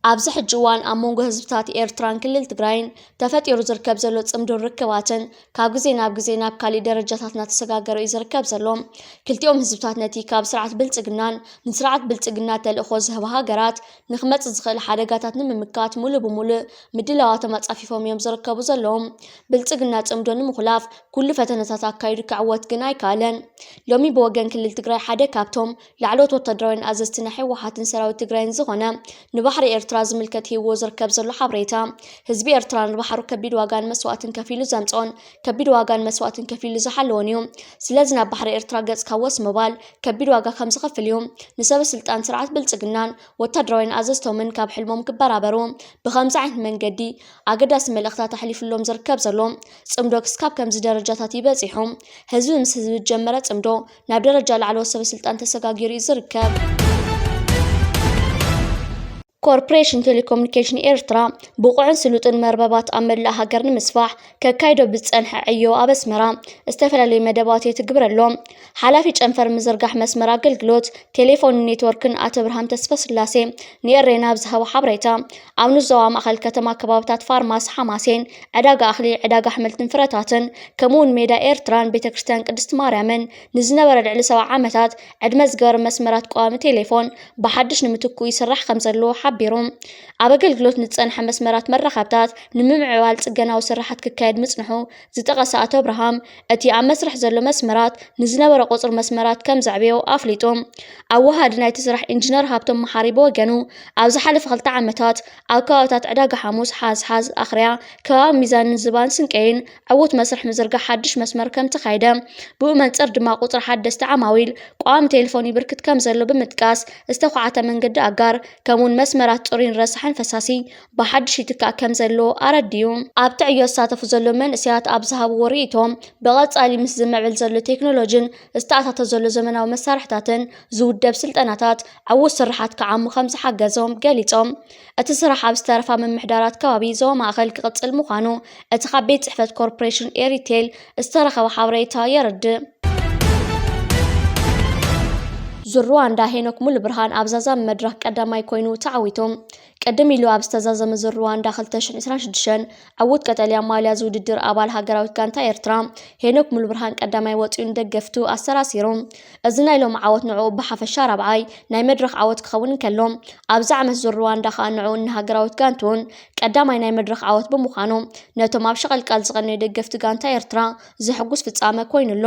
ኣብዚ ሕጂ እዋን ኣብ መንጎ ህዝብታት ኤርትራን ክልል ትግራይን ተፈጢሩ ዝርከብ ዘሎ ጽምዶን ርክባትን ካብ ግዜ ናብ ግዜ ናብ ካሊእ ደረጃታት እናተሰጋገረ እዩ ዝርከብ ዘሎ። ክልቲኦም ህዝብታት ነቲ ካብ ስርዓት ብልጽግናን ንስርዓት ብልጽግና ተልእኾ ዝህባ ሃገራት ንክመፅእ ዝኽእል ሓደጋታት ንምምካት ሙሉእ ብሙሉእ ምድላዋቶም ኣፃፊፎም እዮም ዝርከቡ ዘለዉ። ብልፅግና ፅምዶ ንምኹላፍ ኩሉ ፈተነታት ኣካይዱ ከዕወት ግን ኣይከኣለን። ሎሚ ብወገን ክልል ትግራይ ሓደ ካብቶም ላዕለዎት ወታደራውያን ኣዘዝቲ ናይ ህወሓትን ሰራዊት ትግራይን ዝኾነ ንባሕሪ ኤርትራ ዝምልከት ሂብዎ ዝርከብ ዘሎ ሓበሬታ ህዝቢ ኤርትራ ንባሕሩ ከቢድ ዋጋን መስዋእትን ከፊሉ ዘምፀኦን ከቢድ ዋጋን መስዋእትን ከፊሉ ዝሓለዎን እዩ። ስለዚ ናብ ባሕሪ ኤርትራ ገፅካ ወስ ምባል ከቢድ ዋጋ ከምዝኸፍል እዩ። ንሰበስልጣን ስርዓት ብልጽግናን ወታደራውያን ኣዘዝቶምን ካብ ሕልሞም ክበራበሩ ብኸምዚ ዓይነት መንገዲ ኣገዳሲ መልእኽታት ኣሕሊፍሎም ዝርከብ ዘሎ ጽምዶ ክስካብ ከምዚ ደረጃታት እዩ በጺሑ። ህዝቢ ምስ ህዝቢ ዝጀመረ ጽምዶ ናብ ደረጃ ላዕለዎት ሰበስልጣን ተሰጋጊሩ እዩ ዝርከብ። ኮርፖሬሽን ቴሌኮሙኒኬሽን ኤርትራ ብቑዕን ስሉጥን መርበባት ኣብ መላእ ሃገር ንምስፋሕ ከካይዶ ብዝፀንሐ ዕዮ ኣብ ኣስመራ ዝተፈላለዩ መደባት የትግብር ኣሎ። ሓላፊ ጨንፈር ምዝርጋሕ መስመር ኣገልግሎት ቴሌፎንን ኔትወርክን ኣቶ ብርሃን ተስፋስላሴ ንኤሬና ኣብ ዝሃቦ ሓበሬታ ኣብ ንዞባ ማእኸል ከተማ ከባብታት ፋርማሲ ሓማሴን፣ ዕዳጋ ኣኽሊ፣ ዕዳጋ ኣሕምልትን ፍረታትን ከምኡውን ሜዳ ኤርትራን ቤተክርስትያን ቅድስት ማርያምን ንዝነበረ ልዕሊ ሰብዓ ዓመታት ዕድመ ዝገበረ መስመራት ቀዋሚ ቴሌፎን ብሓድሽ ንምትክኡ ይስራሕ ከምዘሎ ሓቢሩ። ኣብ ኣገልግሎት ንዝጸንሐ መስመራት መራኸብታት ንምምዕባል ጽገናዊ ስራሓት ክካየድ ምጽንሑ ዝጠቐሰ ኣቶ ኣብርሃም፣ እቲ ኣብ መስርሕ ዘሎ መስመራት ንዝነበረ ቁጽሪ መስመራት ከም ዘዕበዮ ኣፍሊጡ። ኣወሃዲ ናይቲ ስራሕ ኢንጂነር ሃብቶም መሓሪ ብወገኑ፣ ኣብ ዝሓለፈ ክልተ ዓመታት ኣብ ከባቢታት ዕዳጋ ሓሙስ፣ ሓዝሓዝ፣ ኣኽርያ፣ ከባቢ ሚዛንን ዝባን ስንቀይን ዕዉት መስርሕ ምዝርጋሕ ሓድሽ መስመር ከምተኻየደ፣ ብኡ መንጽር ድማ ቁጽሪ ሓደስቲ ዓማዊል ቀዋሚ ቴሌፎን ይብርክት ከምዘሎ ብምጥቃስ፣ ዝተዃዕተ መንገዲ ኣጋር፣ ከምኡ'ውን መስመራት ጽሩይን ረሳሕን ፈሳሲ ብሓድሽ ይትካእ ከምዘሎ ኣረዲኡ። ኣብቲ ዕዮ ዝሳተፉ ዘለዉ መንእሰያት ኣብ ዝሃብዎ ርእይቶ፣ ብቐጻሊ ምስ ዝምዕብል ዘሎ ቴክኖሎጅን ዝተኣታቶ ዘሎ ዘመናዊ መሳርሒታትን ዝውደብ ስልጠናታት፣ ዕዉት ስርሓት ክዓሙ ከምዝሓገዞም ገሊጾም። እቲ ስራሕ ኣብ ዝተረፋ ምምሕዳራት ከባቢ ዞባ ማእከል ክቕጽል ምዃኑ እቲ ካብ ቤት ጽሕፈት ኮርፖሬሽን ኤሪቴል ዝተረኸበ ሓበሬታ የረድእ። ዙር ሩዋንዳ ሄኖክ ሙሉብርሃን ኣብ ዛዛሚ መድረኽ ቀዳማይ ኮይኑ ተዓዊቱ። ቅድም ኢሉ ኣብ ዝተዛዘመ ዙር ሩዋንዳ 2026 ዕዉት ቀጠልያ ማልያ ዝውድድር ኣባል ሃገራዊት ጋንታ ኤርትራ ሄኖክ ሙሉብርሃን ቀዳማይ ወጺኡ ንደገፍቱ ኣሰራሲሩ። እዚ ናይ ሎሚ ዓወት ንዕኡ ብሓፈሻ ራብዓይ ናይ መድረኽ ዓወት ክኸውን እንከሎ ኣብዚ ዓመት ዙር ሩዋንዳ ከኣ ንዕኡን ንሃገራዊት ጋንትኡን ቀዳማይ ናይ መድረኽ ዓወት ብምዃኑ ነቶም ኣብ ሸቐልቃል ዝቐነዩ ደገፍቲ ጋንታ ኤርትራ ዘሕጉስ ፍጻመ ኮይኑ ኣሎ።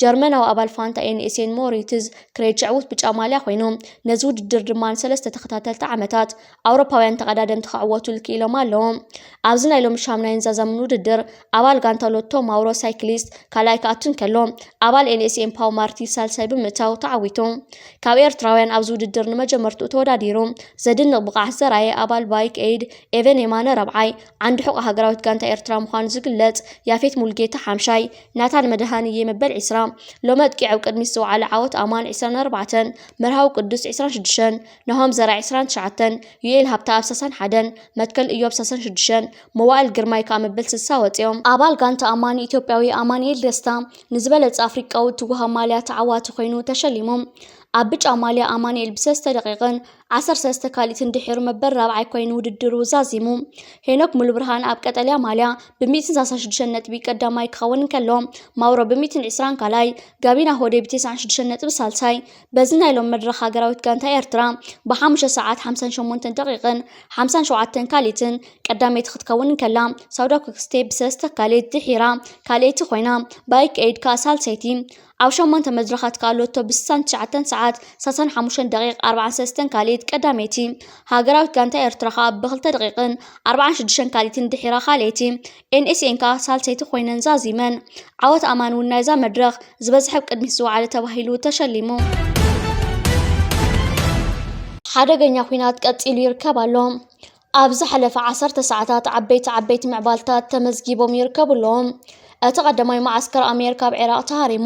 ጀርመናዊ ኣባል ፋንታ ኤንኤስኤን ሞሪትዝ ክሬጅ ዕውት ብጫ ማልያ ኮይኑ ነዚ ውድድር ድማ ንሰለስተ ተኸታተልቲ ዓመታት ኣውሮፓውያን ተቐዳደምቲ ክዕወቱሉ ክኢሎም ኣለዉ። ኣብዚ ናይ ሎሚ ሻምናይን ዛዛምን ውድድር ኣባል ጋንታ ሎቶ ማውሮ ሳይክሊስት ካልኣይ ክኣቱ እንከሎ ኣባል ኤንኤስኤም ፓው ማርቲ ሳልሳይ ብምእታው ተዓዊቱ። ካብ ኤርትራውያን ኣብዚ ውድድር ንመጀመርትኡ ተወዳዲሩ ዘድንቕ ብቕዓት ዘርኣየ ኣባል ባይክ ኤይድ ኤቨን የማነ ራብዓይ፣ ዓንዲ ሕቖ ሃገራዊት ጋንታ ኤርትራ ምዃኑ ዝግለጽ ያፌት ሙልጌታ ሓምሻይ፣ ናታን መድሃንየ መበል ዒስራ፣ ሎሚ ኣጥቂዑ ኣብ ቅድሚት ዝወዓለ ዓወት ኣማን ዒስራን ኣርባዕተን፣ መርሃዊ ቅዱስ ዒስራን ሽዱሽተን፣ ናሆም ዘርኣይ ዒስራን ትሽዓተን፣ ዩኤል ሃብተኣብ ሳሳን ሓደን፣ መትከል እዮብ ሳሳን ሽዱሽተን፣ መዋእል ግርማይ ከኣ መበል ስልሳ ወጺኦም። ኣባል ጋንታ ኣማኒ ኢትዮጵያዊ ኣማኒኤል ደስታ ንዝበለጸ ኣፍሪቃዊ እትወሃብ ማልያ ተዓዋቲ ኮይኑ ተሸሊሙ። ኣብ ብጫ ማልያ ኣማኒኤል ብሰለስተ ደቂቕን ዓሰርተ ሰለስተ ካልኢትን ድሒሩ መበል ራብዓይ ኮይኑ ውድድሩ ዛዚሙ። ሄኖክ ሙሉብርሃን ኣብ ቀጠልያ ማልያ ብሚእትን ሰላሳን ሽዱሽተ ነጥቢ ቀዳማይ ክኸውን እንከሎ፣ ማውሮ ብሚእትን ዕስራን ካልኣይ፣ ጋቢና ሆዴ ብቴስዓን ሽዱሽተን ነጥቢ ሳልሳይ፣ በዚ ናይ ሎሚ መድረኽ ሃገራዊት ጋንታ ኤርትራ ብሓሙሽተ ሰዓት ሓምሳን ሸሞንተን ደቒቕን ሓምሳን ሸውዓተን ካልኢትን ቀዳመይቲ ክትከውን እንከላ ሳውዳ ኩክስቴ ብሰለስተ ካልኢት ድሒራ ካልኣይቲ ኮይና ባይክ ኤይድ ከኣ ሳልሰይቲ ኣብ ሸሞንተ መድረኻት ከኣ ሎቶ ብስሳን ትሽዓተን ሰዓት ሳሳን ሓሙሽተን ደቂቕ ኣርብዓን ሰለስተን ካልኢት ቀዳመይቲ ሃገራዊት ጋንታ ኤርትራ ከኣ ብክልተ ደቒቕን ኣርብዓን ሽዱሽተን ካልኢትን ድሒራ ካልኣይቲ NSA ከኣ ሳልሰይቲ ኮይነን ዛዚመን። ዓወት ኣማን እውን ናይዛ መድረኽ ዝበዝሐ ኣብ ቅድሚት ዝወዓለ ተባሂሉ ተሸሊሙ። ሓደገኛ ኲናት ቀጺሉ ይርከብ ኣሎ። ኣብ ዝሓለፈ ዓሰርተ ሰዓታት ዓበይቲ ዓበይቲ ምዕባልታት ተመዝጊቦም ይርከቡ ኣለዉ። እቲ ቀዳማይ መዓስከር ኣሜሪካ ኣብ ዒራቕ ተሃሪሙ፣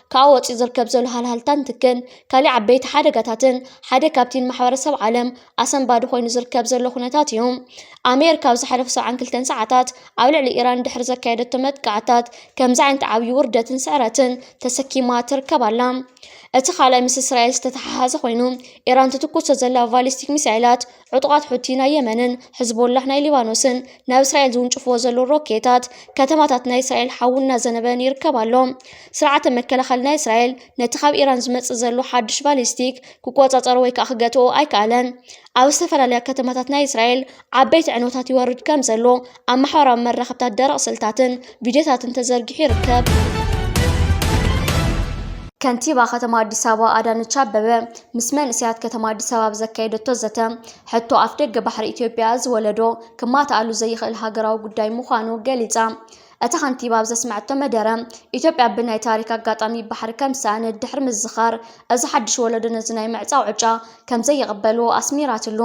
ከኣ ወጺኡ ዝርከብ ዘሎ ሃልሃልታን ትክን ካሊእ ዓበይቲ ሓደጋታትን ሓደ ካብቲ ንማሕበረሰብ ዓለም ኣሰንባዲ ኮይኑ ዝርከብ ዘሎ ኩነታት እዩ። ኣሜሪካ ኣብ ዝሓለፉ 72 ሰዓታት ኣብ ልዕሊ ኢራን ድሕሪ ዘካየደቶ መጥቃዕታት ከምዚ ዓይነት ዓብዪ ውርደትን ስዕረትን ተሰኪማ ትርከብ ኣላ። እቲ ካልኣይ ምስ እስራኤል ዝተተሓሓዘ ኮይኑ ኢራን ትትኩሶ ዘላ ቫሊስቲክ ሚሳይላት ዕጡቓት ሑቲ ናይ የመንን ሕዝቦላህ ናይ ሊባኖስን ናብ እስራኤል ዝውንጭፍዎ ዘለዉ ሮኬታት ከተማታት ናይ እስራኤል ሓዊ እናዘነበን ይርከብ ኣሎ። ስርዓተ መከላኸሊ ናይ እስራኤል ነቲ ካብ ኢራን ዝመጽእ ዘሎ ሓድሽ ባሊስቲክ ክቆጻጸሮ ወይ ከዓ ክገትኦ ኣይከኣለን። ኣብ ዝተፈላለያ ከተማታት ናይ እስራኤል ዓበይቲ ዕንወታት ይወርድ ከም ዘሎ ኣብ ማሕበራዊ መራኸብታት ደረቕ ስእልታትን ቪድዮታትን ተዘርጊሑ ይርከብ። ከንቲባ ከተማ ኣዲስ ኣበባ ኣዳነች ኣበበ ምስ መንእሰያት ከተማ ኣዲስ ኣበባ ዘካየደቶ ዘተ ሕቶ ኣፍ ደገ ባሕሪ ኢትዮጵያ እዚ ወለዶ ክማትኣሉ ዘይኽእል ሃገራዊ ጉዳይ ምዃኑ ገሊጻ። እታ ከንቲባ ኣብ ዘስመዐቶ መደረ ኢትዮጵያ ብናይ ታሪክ ኣጋጣሚ ባሕሪ ከም ዝሰኣነት ድሕሪ ምዝኻር እዚ ሓድሽ ወለዶ ነዚ ናይ ምዕጻው ዕጫ ከም ዘይቕበልዎ ኣስሚራትሉ።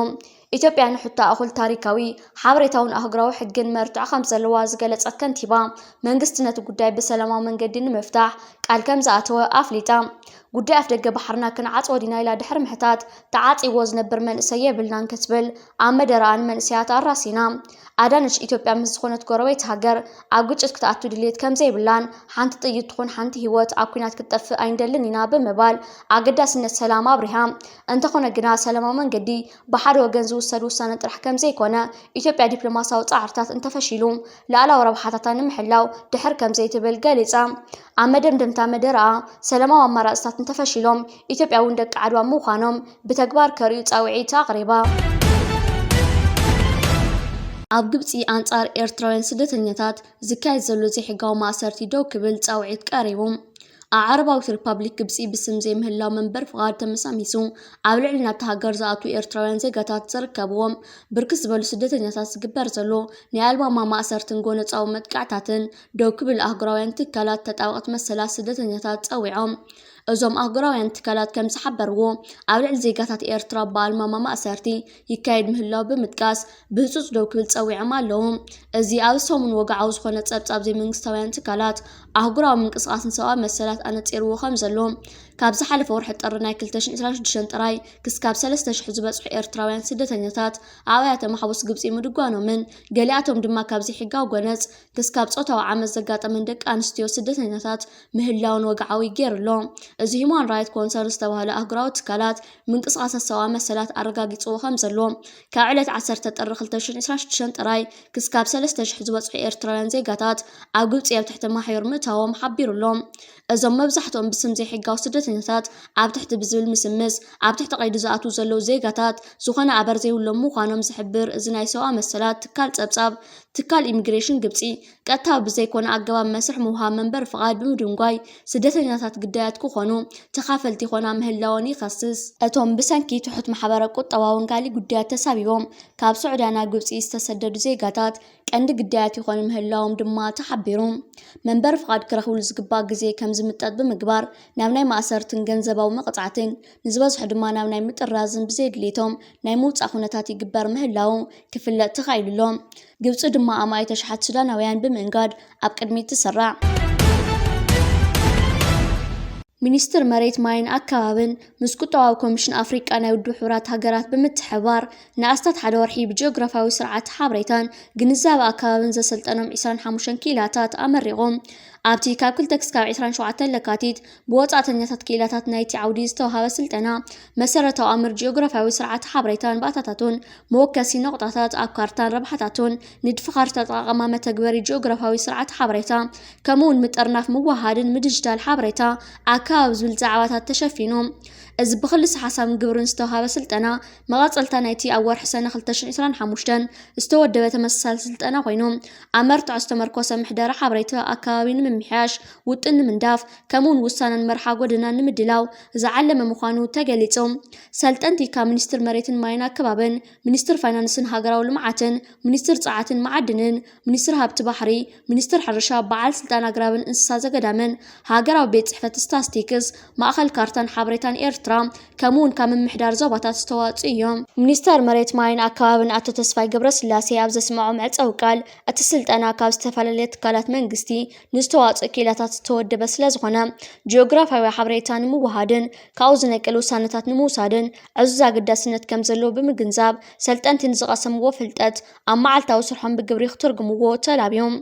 ኢትዮጵያ ንሕቶ ኣኹል ታሪካዊ፣ ሓበሬታውን ኣህጉራዊ ሕግን መርትዖ ከምዘለዋ ዝገለፀት ከንቲባ፣ መንግስቲ ነቲ ጉዳይ ብሰላማዊ መንገዲ ንምፍታሕ ቃል ከምዝኣተወ ኣፍሊጣ። ጉዳይ ኣፍደገ ባሕርና ክንዓፅዎ ዲና ኢላ ድሕሪ ምሕታት፣ ተዓፂይዎ ዝነብር መንእሰይ የብልናን ክትብል ኣብ መደረኣ ንመንእሰያት ኣራሲና። ኣዳነች፣ ኢትዮጵያ ምስ ዝኾነት ጎረቤት ሃገር ኣብ ግጭት ክትኣቱ ድልየት ከምዘይብላን ሓንቲ ጥይት ትኹን ሓንቲ ህይወት ኣብ ኲናት ክትጠፍእ ኣይንደልን ኢና ብምባል ኣገዳስነት ሰላም ኣብሪሃ። እንተኾነ ግና ሰላማዊ መንገዲ ብሓደ ወገን ዝውሰድ ውሳነ ጥራሕ ከምዘይኮነ፣ ኢትዮጵያ ዲፕሎማሲያዊ ፃዕርታት እንተፈሺሉ ልኣላዊ ረብሓታታ ንምሕላው ድሕር ከምዘይትብል ገሊፃ። ኣብ መደምደምታ መደረኣ፣ ሰላማዊ ኣማራፅታት እንተፈሺሎም ኢትዮጵያ እውን ደቂ ዓድዋ ምዃኖም ብተግባር ከርእዩ ፃውዒት ኣቕሪባ። ኣብ ግብፂ ኣንፃር ኤርትራውያን ስደተኛታት ዝካየድ ዘሎ ዘይሕጋዊ ማእሰርቲ ደው ክብል ፃውዒት ቀሪቡ። ኣብ ዓረባዊት ሪፓብሊክ ግብጺ ብስም ዘይምህላው መንበሪ ፍቓድ ተመሳሚሱ ኣብ ልዕሊ ናብታ ሃገር ዝኣትዉ ኤርትራውያን ዜጋታት ዝርከብዎም ብርክት ዝበሉ ስደተኛታት ዝግበር ዘሎ ናይ ኣልባማ ማእሰርትን ጎነጻዊ መጥቃዕታትን ደው ክብል ኣህጉራውያን ትካላት ተጣበቕቲ መሰላት ስደተኛታት ጸዊዖም። እዞም ኣህጉራውያን ትካላት ከም ዝሓበርዎ፣ ኣብ ልዕሊ ዜጋታት ኤርትራ ብኣልማማ ማእሰርቲ፣ ይካየድ ምህላዉ ብምጥቃስ ብህጹጽ ደው ክብል ጸዊዖም ኣለዉ። እዚ ኣብዚ ሰሙን ወግዓዊ ዝኾነ ጸብጻብ ዘይመንግስታውያን ትካላት ኣህጉራዊ ምንቅስቓስ ንሰብኣዊ መሰላት ኣነጺርዎ ከምዘሎ፣ ካብ ዝሓለፈ ወርሒ ጥሪ ናይ ክልተ ሽሕን ዕስራን ሽዱሽተን ጥራይ ክስካብ ሰለስተ ሽሕ ዝበጽሑ ኤርትራውያን ስደተኛታት ኣብ ኣብያተ ማሕቡስ ግብጺ ምድጓኖምን ገሊኣቶም ድማ ካብ ዘይሕጋዊ ጎነጽ ክስካብ ጾታዊ ዓመጽ ዘጋጠመን ደቂ ኣንስትዮ ስደተኛታት ምህላውን ወግዓዊ ገይሩ ኣሎ። እዚ ሁማን ራይት ኮንሰርን ዝተባህለ ኣህጉራዊ ትካላት ምንቅስቓሳት ሰብኣዊ መሰላት ኣረጋጊጽዎ ከምዘሎ፣ ካብ ዕለት ዓሰርተ ጥሪ ክልተ ሽሕን ዕስራን ሽዱሽተን ጥራይ ክስካብ ሰለስተ ሽሕ ዝበጽሑ ኤርትራውያን ዜጋታት ኣብ ግብጺ ኣብ ትሕቲ ማሕዩር ምእታዎም ሓቢሩ ኣሎ። እዞም መብዛሕትኦም ብስም ዘይሕጋዊ ስደተኛታት ኣብ ትሕቲ ብዝብል ምስምስ ኣብ ትሕቲ ቀይዲ ዝኣትዉ ዘለዉ ዜጋታት ዝኾነ ኣበር ዘይብሎም ምዃኖም ዝሕብር እዚ ናይ ሰብኣዊ መሰላት ትካል ጸብጻብ፣ ትካል ኢሚግሬሽን ግብጺ፣ ቀጥታዊ ብዘይኮነ ኣገባብ መስርሕ ምውሃብ መንበሪ ፍቓድ ብምድንጓይ፣ ስደተኛታት ግዳያት ክኾኑ፣ ተኻፈልቲ ይኾና ምህላወን ይኸስስ። እቶም ብሰንኪ ትሑት ማሕበረ-ቁጠባውን ካልእ ጉዳያት ተሳቢቦም ካብ ሱዕድያ ናብ ግብጺ ዝተሰደዱ ዜጋታት፣ ቀንዲ ግዳያት ይኾኑ ምህላዎም ድማ ተሓቢሩ። መንበሪ ፍቓድ ክረኽብሉ ዝግባእ ግዜ ከም ዝምጠጥ ብምግባር፣ ናብ ናይ ማእሰርትን ገንዘባዊ መቕጻዕትን ዝበዝሑ ድማ ናብ ናይ ምጥራዝን ብዘይ ድሌቶም ናይ ምውጻእ ኩነታት ይግበር ምህላዉ ክፍለጥ ተኻኢሉ ኣሎ። ግብጺ ድማ ኣማኢት ኣሽሓት ሱዳናውያን ብምእንጋድ ኣብ ቅድሚት ትስራዕ። ሚኒስትር መሬት ማይን ኣከባብን ምስ ቁጠባዊ ኮሚሽን ኣፍሪቃ ናይ ውድብ ሕቡራት ሃገራት ብምትሕብባር ንኣስታት ሓደ ወርሒ ብጂኦግራፍያዊ ስርዓተ ሓበሬታን ግንዛበ ኣከባብን ዘሰልጠኖም 25 ክኢላታት ኣመሪቖም። ኣብቲ ካብ 2 ክሳብ 27 ለካቲት ብወጻእተኛታት ክኢላታት ናይቲ ዓውዲ ዝተውሃበ ስልጠና፣ መሰረታዊ ኣምር ጂኦግራፍያዊ ስርዓተ ሓበሬታን ባእታታቱን፣ መወከሲ ነቑጣታት ኣብ ካርታን ረብሓታቱን፣ ንድፊ ካርታ ኣጠቓቕማ መተግበሪ ጂኦግራፍያዊ ስርዓተ ሓበሬታ፣ ከምኡ'ውን ምጥርናፍ ምውህሃድን ምድጅዳል ሓበሬታ ኣከባቢ ዝብል ዛዕባታት ተሸፊኑ። እዚ ብክልሰ-ሓሳብን ግብርን ዝተውሃበ ስልጠና፣ መቐጸልታ ናይቲ ኣብ ወርሒ ሰነ ክልተ ሽሕ ዕስራን ሓሙሽተን ዝተወደበ ተመሳሳሊ ስልጠና ኮይኑ፣ ኣብ መርትዖ ዝተመርኮሰ ምሕደራ ሓበሬታ ኣከባቢ ንምምሕያሽ፣ ውጥን ንምንዳፍ፣ ከምኡ'ውን ውሳነን መርሓ ጎደናን ንምድላው ዝዓለመ ምዃኑ ተገሊጹ። ሰልጠንቲ ካብ ሚኒስትሪ መሬትን ማይን ኣከባብን፣ ሚኒስትሪ ፋይናንስን ሃገራዊ ልምዓትን፣ ሚኒስትሪ ጸዓትን መዓድንን፣ ሚኒስትሪ ሃብቲ ባሕሪ፣ ሚኒስትር ሕርሻ፣ በዓል ስልጣን ኣግራብን እንስሳ ዘገዳምን፣ ሃገራዊ ቤት ጽሕፈት ስታስቲክስ፣ ማእኸል ካርታን ሓበሬታን ኤርትራ፣ ከምኡ ውን ካብ ምምሕዳር ዞባታት ዝተዋጽኡ እዮም። ሚኒስተር መሬት ማይን ኣከባብን ኣቶ ተስፋይ ገብረስላሴ ኣብ ዘስመዖ መዕጸዊ ቃል፣ እቲ ስልጠና ካብ ዝተፈላለየ ትካላት መንግስቲ ንዝተዋጽኡ ክኢላታት ዝተወደበ ስለዝኾነ፣ ጂኦግራፍያዊ ሓበሬታ ንምውሃድን ካብኡ ዝነቅል ውሳነታት ንምውሳድን ዕዙዝ ኣገዳስነት ከምዘለዎ ብምግንዛብ፣ ሰልጠንቲ ንዝቐሰምዎ ፍልጠት ኣብ መዓልታዊ ስርሖም ብግብሪ ክትርጉምዎ ተላብዮም።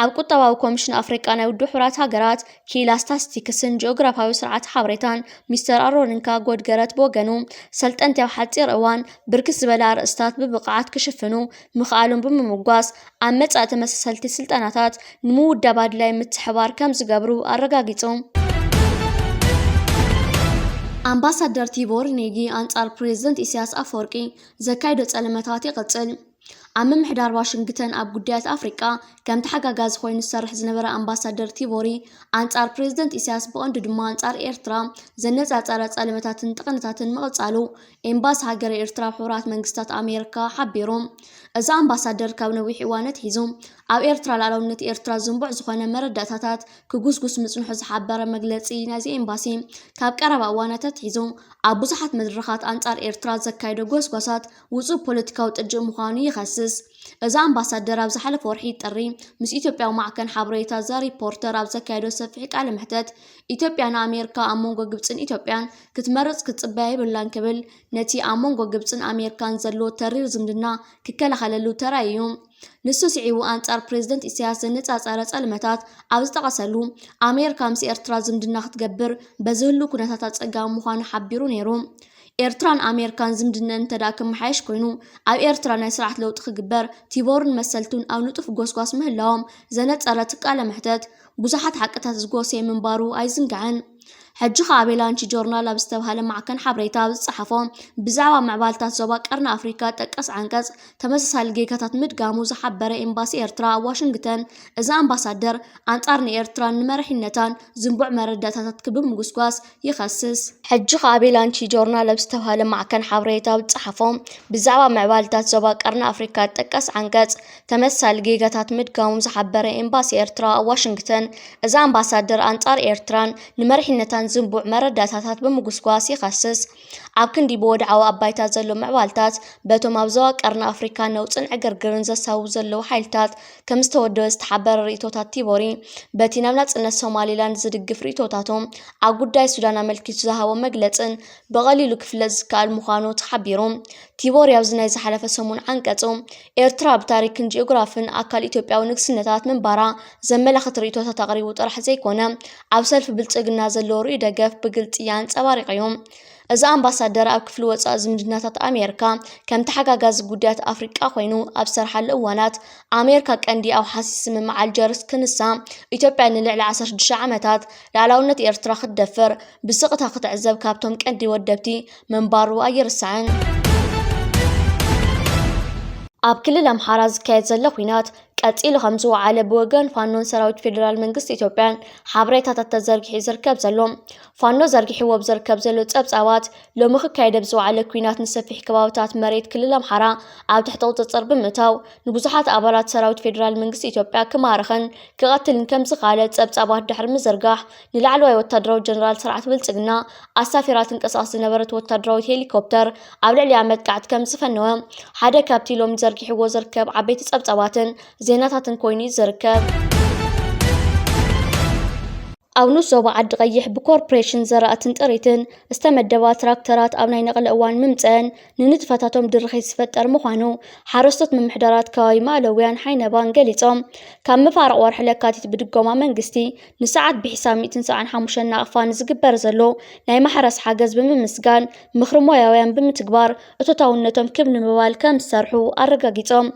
ኣብ ቁጠባዊ ኮሚሽን ኣፍሪቃ ናይ ውድብ ሕቡራት ሃገራት ክኢላ ስታስቲክስን ጂኦግራፋዊ ስርዓት ሓበሬታን ሚስተር ኣሮኒካ ጎድገረት ብወገኑ ሰልጠንቲ ኣብ ሓፂር እዋን ብርክት ዝበለ ኣርእስታት ብብቕዓት ክሽፍኑ ምኽኣሎም ብምምጓስ ኣብ መጻኢ ተመሳሰልቲ ስልጠናታት ንምውዳብ ኣድላይ ምትሕባር ከም ዝገብሩ ኣረጋጊጹ። ኣምባሳደር ቲቦር ኔጊ ኣንጻር ፕሬዝደንት ኢሳያስ ኣፈወርቂ ዘካይዶ ጸለመታት ይቕጽል። ኣብ ምምሕዳር ዋሽንግተን ኣብ ጉዳያት ኣፍሪቃ ከም ተሓጋጋዚ ኮይኑ ዝሰርሕ ዝነበረ ኣምባሳደር ቲቦሪ፣ ኣንጻር ፕረዚደንት ኢሳያስ ብቐንዱ ድማ ኣንጻር ኤርትራ ዘነጻጸረ ጸለመታትን ጥቕንታትን ምቕጻሉ ኤምባሲ ሃገረ ኤርትራ ኣብ ሕቡራት መንግስታት ኣሜርካ ሓቢሩ። እዚ ኣምባሳደር ካብ ነዊሕ እዋን ኣትሒዙ ኣብ ኤርትራ ልኣላውነት ኤርትራ ዝንቡዕ ዝኾነ መረዳእታታት ክጉስጉስ ምጽንሑ ዝሓበረ መግለጺ ናይዚ ኤምባሲ፣ ካብ ቀረባ እዋናት ኣትሒዙ ኣብ ብዙሓት መድረኻት ኣንጻር ኤርትራ ዘካይዶ ጎስጓሳት ውጹእ ፖለቲካዊ ጥጅእ ምዃኑ ይኸስስ። እዚ ኣምባሳደር ኣብ ዝሓለፈ ወርሒ ጥሪ ምስ ኢትዮጵያዊ ማዕከን ሓበሬታ ዘ ሪፖርተር ኣብ ዘካየዶ ሰፊሕ ቃለ መሕተት ኢትዮጵያ ንኣሜርካ ኣብ መንጎ ግብጽን ኢትዮጵያን ክትመርጽ ክትጽበያ የብላን ክብል ነቲ ኣብ መንጎ ግብጽን ኣሜርካን ዘሎ ተሪር ዝምድና ክከላኸለሉ ተራእዩ። ንሱ ስዒቡ ኣንጻር ፕረዚደንት ኢሳያስ ዘነጻጸረ ጸልመታት ኣብ ዝጠቐሰሉ፣ ኣሜርካ ምስ ኤርትራ ዝምድና ክትገብር በዚ ህሉው ኩነታት ኣጸጋሚ ምዃኑ ሓቢሩ ነይሩ። ኤርትራን ኣሜርካን ዝምድነን እንተድኣ ክመሓየሽ ኮይኑ፣ ኣብ ኤርትራ ናይ ስርዓት ለውጢ ክግበር ቲቦርን መሰልቱን ኣብ ንጡፍ ጎስጓስ ምህላዎም ዘነጸረት ቃለ መሕተት፣ ብዙሓት ሓቅታት ዝጎሰየ ምንባሩ ኣይዝንጋዕን። ሕጂ ከኣ ኣቬላንቺ ጆርናል ኣብ ዝተብሃለ ማዕከን ሓበሬታ ኣብ ዝጸሓፎ ብዛዕባ ምዕባልታት ዞባ ቀርኒ ኣፍሪቃ ጠቀስ ዓንቀጽ ተመሳሳሊ ጌጋታት ምድጋሙ ዝሓበረ ኤምባሲ ኤርትራ ኣብ ዋሽንግተን እዛ ኣምባሳደር ኣንጻር ንኤርትራን ንመራሒነታን ዝንቡዕ መረዳእታታት ክብምጉስጓስ ይኸስስ። ሕጂ ከኣ ቤላንቺ ጆርናል ኣብ ዝተብሃለ ማዕከን ሓበሬታ ኣብ ዝጸሓፎ፣ ብዛዕባ ምዕባለታት ዞባ ቀርኒ ኣፍሪቃ ዝጥቀስ ዓንቀጽ፣ ተመሳሳሊ ጌጋታት ምድጋሞም ዝሓበረ ኤምባሲ ኤርትራ ኣብ ዋሽንግተን፣ እዛ ኣምባሳደር ኣንጻር ኤርትራን ንመሪሕነታን ዝንቡዕ መረዳእታታት ብምጉስጓስ ይኸስስ። ኣብ ክንዲ ብወድዓዊ ኣባይታ ዘሎ ምዕባለታት፣ በቶም ኣብ ዞባ ቀርኒ ኣፍሪቃ ነውጽን ዕግርግርን ዘሳውቡ ዘለዉ ሓይልታት ከም ዝተወደበ ዝተሓበረ ርእይቶታት ቲቦሪ፣ በቲ ናብ ናጽነት ሶማሊላንድ ዝድግፍ ርእይቶታቱ ኣብ ጉዳይ ሱዳን ኣመልኪቱ ዝሃቦ መግለጽን ብቐሊሉ ክፍለጥ ዝከኣል ምዃኑ ተሓቢሩ። ቲቦሪ ኣብዚ ናይ ዝሓለፈ ሰሙን ዓንቀጹ፣ ኤርትራ ብታሪክን ጂኦግራፍን ኣካል ኢትዮጵያዊ ንግስነታት ምንባራ ዘመላኽት ርእይቶታት ኣቕሪቡ ጥራሕ ዘይኮነ፣ ኣብ ሰልፊ ብልጽግና ዘለዎ ርኡይ ደገፍ ብግልጺ ኣንጸባሪቑ'ዩ። እዚ ኣምባሳደር ኣብ ክፍሊ ወፃኢ ዝምድናታት ኣሜሪካ ከም ተሓጋጋዚ ጉዳያት ኣፍሪቃ ኮይኑ ኣብ ዝሰርሓሉ እዋናት ኣሜሪካ ቀንዲ ኣውሓሲ ስምምዕ ኣልጀርስ ክንሳ ኢትዮጵያ ንልዕሊ 16 ዓመታት ላዕላውነት ኤርትራ ክትደፍር ብስቕታ ክትዕዘብ ካብቶም ቀንዲ ወደብቲ ምንባሩ ኣይርሳዕን። ኣብ ክልል ኣምሓራ ዝካየድ ዘሎ ኩናት ቀፂሉ ከም ዝወዓለ ብወገን ፋኖን ሰራዊት ፌዴራል መንግስቲ ኢትዮጵያን ሓበሬታታት ተዘርጊሑ ዝርከብ ዘሎ ፋኖ ዘርጊሕዎ ብዝርከብ ዘሎ ጸብጻባት፣ ሎሚ ክካየድ ኣብ ዝወዓለ ኲናት ንሰፊሕ ከባብታት መሬት ክልል ኣምሓራ ኣብ ትሕቲ ቁጽጽር ብምእታው ንብዙሓት ኣባላት ሰራዊት ፌደራል መንግስቲ ኢትዮጵያ ክማርኽን ክቐትልን ከም ዝኸኣለ ጸብጻባት ድሕሪ ምዝርጋሕ ንላዕለዋይ ወታደራዊ ጀነራል ስርዓት ብልጽግና ኣሳፊራ ትንቀሳቐስ ዝነበረት ወታደራዊት ሄሊኮፕተር ኣብ ልዕሊኣ መጥቃዕቲ ከም ዝፈነወ ሓደ ካብቲ ሎሚ ዘርጊሕዎ ዝርከብ ዓበይቲ ጸብጻባትን ዜናታትን ኮይኑ እዩ ዝርከብ። ኣብ ንኡስ ዞባ ዓዲ ቐይሕ ብኮርፕሬሽን ዘራእትን ጥሪትን ዝተመደባ ትራክተራት ኣብ ናይ ነቕሊ እዋን ምምፀኣን ንንጥፈታቶም ድርኺት ዝፈጠር ምዃኑ ሓረስቶት ምምሕዳራት ከባቢ ማእለውያን ሓይነባን ገሊፆም። ካብ መፋርቕ ወርሒ ለካቲት ብድጎማ መንግስቲ ንሰዓት ብሒሳብ ሚእትን ሰብዓን ሓሙሽተን ናቕፋ ንዝግበር ዘሎ ናይ ማሕረስ ሓገዝ ብምምስጋን ምኽሪ ሞያውያን ብምትግባር እቶታውነቶም ክብ ንምባል ከምዝሰርሑ ኣረጋጊፆም።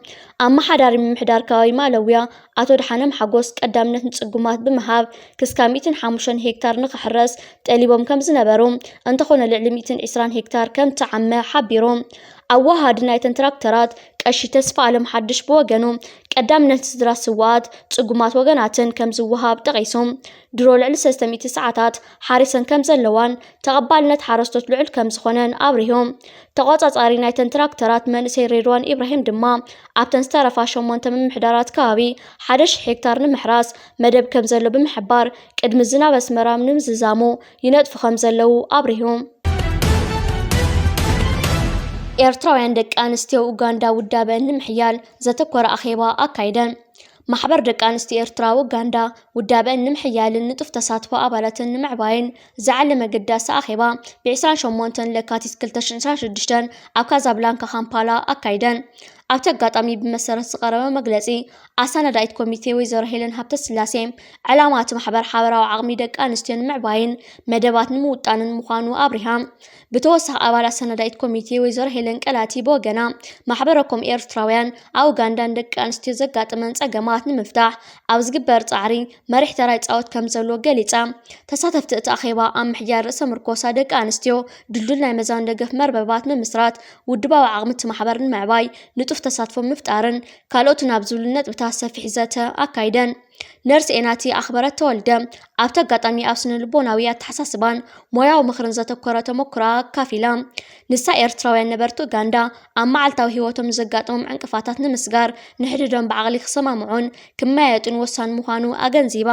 ኣመሓዳሪ ምምሕዳር ከባቢ ማእለውያ ኣቶ ደሓንም ሓጎስ ቀዳምነት ንፅጉማት ብምሃብ ክስካ ሚእትን ሓሙሽተን ሄክታር ንክሕረስ ጠሊቦም ከምዝነበሩ እንተኾነ ልዕሊ ሚእትን ዒስራን ሄክታር ከምተዓመ ሓቢሩ። ኣወሃሃዲ ናይተን ትራክተራት ቀሺ ተስፋኣለም ሓድሽ ብወገኑ ቀዳምነት ንስድራ ስውኣት ፅጉማት ወገናትን ከምዝወሃብ ጠቒሱ ድሮ ልዕሊ ሰለስተ ሚእቲ ሰዓታት ሓሪሰን ከምዘለዋን ተቐባልነት ሓረስቶት ልዑል ከምዝኾነን ኣብሪሆም። ተቖጻጻሪ ናይተን ትራክተራት መንእሰይ ሬድዋን ኢብራሂም ድማ ኣብተን ዝተረፋ ሸሞንተ ምምሕዳራት ከባቢ ሓደ ሽሕ ሄክታር ንምሕራስ መደብ ከምዘሎ ብምሕባር ቅድሚ ዝናብ ኣስመራ ንምዝዛሙ ይነጥፉ ከምዘለዉ ኣብሪሁ። ኤርትራውያን ደቂ ኣንስትዮ ኡጋንዳ ውዳበን ንምሕያል ዘተኮረ ኣኼባ ኣካይደን። ማሕበር ደቂ ኣንስትዮ ኤርትራ ኡጋንዳ ውዳበኣን ንምሕያልን ንጡፍ ተሳትፎ ኣባላተን ንምዕባይን ዝዓለመ ኣገዳሲ ኣኼባ ብ28 ለካቲት 2026 ኣብ ካዛብላንካ ካምፓላ ኣካይደን። ኣብቲ ኣጋጣሚ ብመሰረት ዝቐረበ መግለጺ ኣሰናዳኢት ኮሚቴ ወይዘሮ ሄለን ሃብተስላሴ ዕላማ እቲ ማሕበር ሓበራዊ ዓቕሚ ደቂ ኣንስትዮ ንምዕባይን መደባት ንምውጣንን ምዃኑ ኣብሪሃ። ብተወሳኺ ኣባል ኣሰናዳኢት ኮሚቴ ወይዘሮ ሄለን ቀላቲ ብወገና ማሕበረኮም ኤርትራውያን ኣብ ኡጋንዳ ንደቂ ኣንስትዮ ዘጋጥመን ጸገማት ንምፍታሕ ኣብ ዝግበር ጻዕሪ መሪሕ ተራ ይጻወት ከም ዘለዎ ገሊጻ። ተሳተፍቲ እቲ ኣኼባ ኣብ ምሕያል ርእሰ ምርኮሳ ደቂ ኣንስትዮ፣ ድልዱል ናይ መዛን ደገፍ መርበባት ምምስራት፣ ውድባዊ ዓቕሚ እቲ ማሕበር ንምዕባይ ንጡፍ ተሳትፎ ምፍጣርን ካልኦትን ኣብ ዝብሉ ነጥብታት ሰፊሕ ዘተ ኣካይደን። ነርስ ኤናቲ ኣኽበረት ተወልደ ኣብቲ ኣጋጣሚ ኣብ ስነልቦናዊ ኣተሓሳስባን ሞያዊ ምኽርን ዘተኮረ ተሞክሮኣ ኣካፊላ። ንሳ ኤርትራውያን ነበርቲ ኡጋንዳ ኣብ መዓልታዊ ህይወቶም ንዘጋጥሞም ዕንቅፋታት ንምስጋር ንሕድሕዶም ብዓቕሊ ክሰማምዑን ክመያየጡን ወሳኒ ምዃኑ ኣገንዚባ።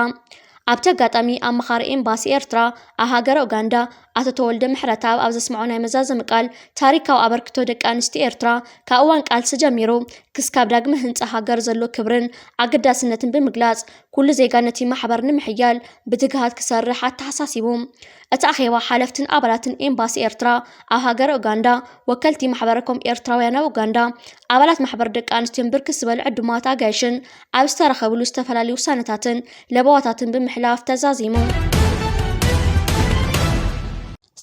ኣብቲ ኣጋጣሚ ኣማኻሪ ኤምባሲ ኤርትራ ኣብ ሃገረ ኡጋንዳ ኣቶ ተወልደ ምሕረትኣብ ኣብ ዘስመዖ ናይ መዛዘሚ ቃል፣ ታሪካዊ ኣበርክቶ ደቂ ኣንስትዮ ኤርትራ ካብ እዋን ቃልሲ ጀሚሩ ክስካብ ዳግመ ህንጻ ሃገር ዘሎ ክብርን ኣገዳስነትን ብምግላጽ፣ ኩሉ ዜጋ ነቲ ማሕበር ንምሕያል ብትግሃት ክሰርሕ ኣተሓሳሲቡ። እቲ ኣኼባ ሓለፍትን ኣባላትን ኤምባሲ ኤርትራ ኣብ ሃገረ ኡጋንዳ፣ ወከልቲ ማሕበረ ኮም ኤርትራውያን ኣብ ኡጋንዳ፣ ኣባላት ማሕበር ደቂ ኣንስትዮን ብርክት ዝበሉ ዕዱማት ኣጋይሽን ኣብ ዝተረኸብሉ ዝተፈላለዩ ውሳነታትን ለበዋታትን ብምሕላፍ ተዛዚሙ።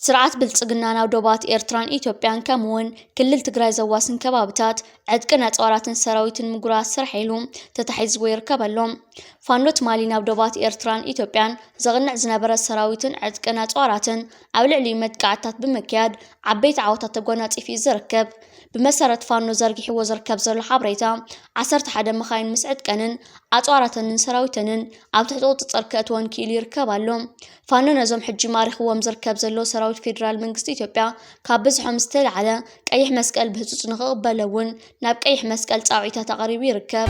ስርዓት ብልፅግና ናብ ዶባት ኤርትራን ኢትዮጵያን ከምኡ እውን ክልል ትግራይ ዘዋስን ከባብታት ዕጥቅን ኣፅዋራትን ሰራዊትን ምጉራት ስራሕ ኢሉ ተታሒዝዎ ይርከብ ኣሎ። ፋኖ ትማሊ ናብ ዶባት ኤርትራን ኢትዮጵያን ዘቕንዕ ዝነበረ ሰራዊትን ዕጥቅን ኣፅዋራትን ኣብ ልዕሊኡ መጥቃዕትታት ብምክያድ ዓበይቲ ዓወታት ተጓናፂፉ እዩ ዝርከብ። ብመሰረት ፋኖ ዘርጊሕዎ ዝርከብ ዘሎ ሓበሬታ፣ ዓሰርተ ሓደ መኻይን ምስ ዕጥቀንን ኣፅዋራተንን ሰራዊተንን ኣብ ትሕቲ ቁፅፅር ክእትወን ክኢሉ ይርከብ ኣሎ። ፋኖ ነዞም ሕጂ ማሪኽዎም ዝርከብ ዘሎ ሰራዊት ፌዴራል መንግስቲ ኢትዮጵያ ካብ ብዝሖም ዝተልዓለ ቀይሕ መስቀል ብህፁፅ ንክቕበሎ እውን ናብ ቀይሕ መስቀል ፃውዒታት ኣቕሪቡ ይርከብ።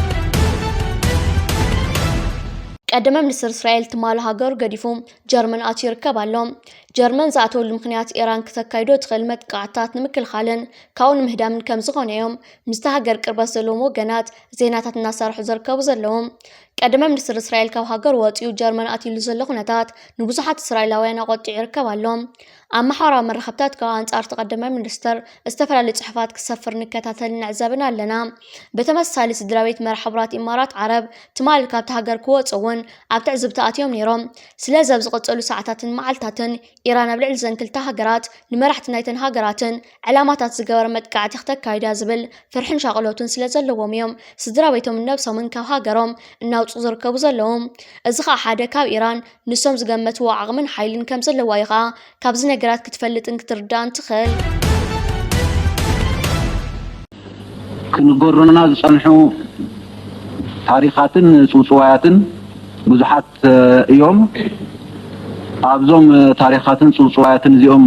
ቀደመ ሚኒስትር እስራኤል ትማል ሃገሩ ገዲፉ ጀርመን ኣትዩ ይርከብ ኣሎ። ጀርመን ዝኣተወሉ ምክንያት ኢራን ክተካይዶ ትኽእል መጥቃዕትታት ንምክልኻልን ካብኡ ንምህዳምን ከም ዝኾነ እዮም ምስቲ ሃገር ቅርበት ዘለዎም ወገናት ዜናታት እናሰርሑ ዝርከቡ ዘለዉ። ቀደመ ሚኒስትር እስራኤል ካብ ሃገር ወፂኡ ጀርመን ኣትዩሉ ዘሎ ኩነታት ንብዙሓት እስራኤላውያን ኣቆጢዑ ይርከብ ኣሎ። ኣብ ማሕበራዊ መራኸብታት ካብ ኣንጻር እቲ ቀዳማይ ሚኒስተር ዝተፈላለዩ ጽሑፋት ክሰፍር ንከታተልን ንዕዘብን ኣለና። ብተመሳሳሊ ስድራቤት መራሒ ሕቡራት ኢማራት ዓረብ ትማሊ ካብቲ ሃገር ክወጹ እውን ኣብ ትዕዝብቲ ኣትዮም ነይሮም። ስለዚ ኣብ ዝቕጽሉ ሰዓታትን መዓልታትን ኢራን ኣብ ልዕሊ እዘን ክልተ ሃገራት ንመራሕቲ ናይተን ሃገራትን ዕላማታት ዝገበረ መጥቃዕቲ ክተካይድ እያ ዝብል ፍርሕን ሻቕሎትን ስለ ዘለዎም እዮም ስድራቤቶምን ነብሶምን ካብ ሃገሮም እናውጽኡ ዝርከቡ ዘለዉ። እዚ ኸኣ ሓደ ካብ ኢራን ንሶም ዝገመትዎ ዓቕምን ሓይልን ከም ዘለዋ እዩ ኸኣ ካብዚ ነገራት ክትፈልጥን ክትርዳእን ትኽእል። ክንገሩና ዝጸንሑ ታሪኻትን ጽውጽዋያትን ብዙሓት እዮም። ኣብዞም ታሪኻትን ጽውጽዋያትን እዚኦም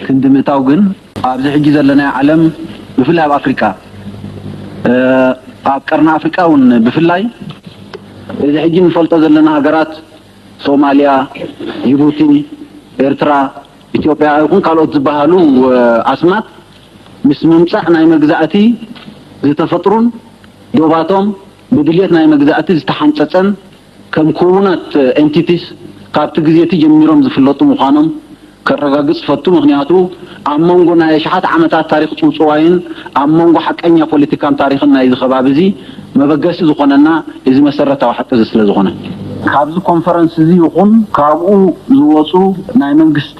ክንዲ ምእታው ግን ኣብዚ ሕጂ ዘለናዮ ዓለም ብፍላይ ኣብ ኣፍሪቃ ኣብ ቀርኒ ኣፍሪቃ እውን ብፍላይ እዚ ሕጂ እንፈልጦ ዘለና ሃገራት ሶማልያ፣ ጅቡቲ፣ ኤርትራ፣ ኢትዮጵያ ይኹን ካልኦት ዝበሃሉ ኣስማት ምስ ምምጻእ ናይ መግዛእቲ ዝተፈጥሩን ዶባቶም ብድልየት ናይ መግዛእቲ ዝተሓንጸጸን ከም ክዉናት Entities ካብቲ ግዜቲ ጀሚሮም ዝፍለጡ ምዃኖም ከረጋግጽ እፈቱ፣ ምኽንያቱ ኣብ መንጎ ናይ ኣሽሓት ዓመታት ታሪኽ ጽውጽዋይን ኣብ መንጎ ሓቀኛ ፖለቲካን ታሪኽን ናይዚ ከባቢዚ መበገሲ ዝኾነና እዚ መሰረታዊ ሓቂዚ ስለ ዝኾነ። ካብዚ ኮንፈረንስዚ ይኹን ካብኡ ዝወጹ ናይ መንግስቲ።